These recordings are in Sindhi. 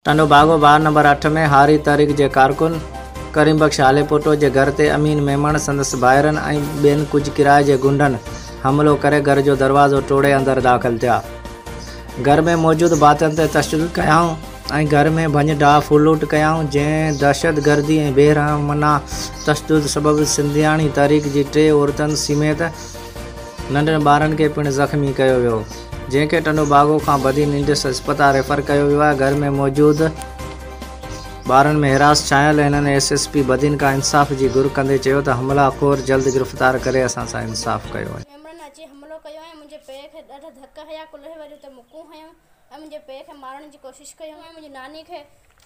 ٽنڊو باگو وارڊ نمبر اٺ ۾ هاري تحريڪ جي ڪارڪن ڪريم بخش هاليپوٽو جي گهر تي امين ميمڻ، سندس ڀائرن ۽ ٻين ڪجهه ڪرائي جي غنڊن حملو ڪري گهر جو دروازو ٽوڙي اندر داخل ٿيا. گهر ۾ موجود ڀاتين تي تشدد ڪيائون. ۽ گهر ۾ ڀڃ ڊاهه ڦرلوٽ ڪيائون، جنهن دهشتگردي ۽ بيرحمانه تشدد سبب سنڌياڻي تحريڪ جي ٽي عورتن سميت ننڍن ٻارن کي پڻ زخمي ڪيو ويو، جنهن کي ٽنڊو باگو کان بدين انڊس اسپتال ريفر ڪيو ويو آهي، گهر ۾ موجود ٻارن ۾ حراس ڇانيل هنن ايس ايس پي بدين کان انصاف جي گهر ڪندي چيو ته حملا خور جلد گرفتار ڪري اسان سان انصاف ڪيو وڃي. ميمڻن اچي حملو ڪيو ۽ منهنجي پيء کي ڏاڍا ڌڪ هنيا، ڪلهي وري اتي مڪون هنيون، ۽ منهنجي پيء کي مارڻ جي ڪوشش ڪيون ۽ منهنجي ناني کي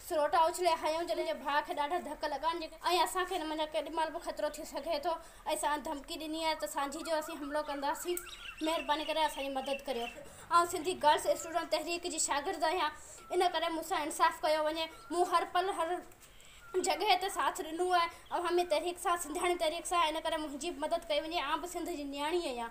سروٽا اڇلي هنيون جڏهن منهنجي ڀاء کي ڏاڍا ڌڪ لڳا ۽ اسان کي هن منجهان ڪيڏي مهل به خطرو ٿي سگهي ٿو ۽ ساڻن ڌمڪي ڏني آهي ته سانجهي جو اسين حملو ڪنداسين مهرباني ڪري اسان جي مدد ڪريو آئون سنڌي گرلس اسٽوڊنٽ تحريڪ جي شاگرد آهيان ان ڪري مون سان انصاف ڪيو وڃي مون هر پل هر جڳهه تي ساٿ ڏنو آهي اوهان ۾ تحريڪ سان سنڌياڻي تحريڪ سان ان ڪري منهنجي به مدد ڪئي وڃي آئون به سنڌ جي نياڻي اهيان.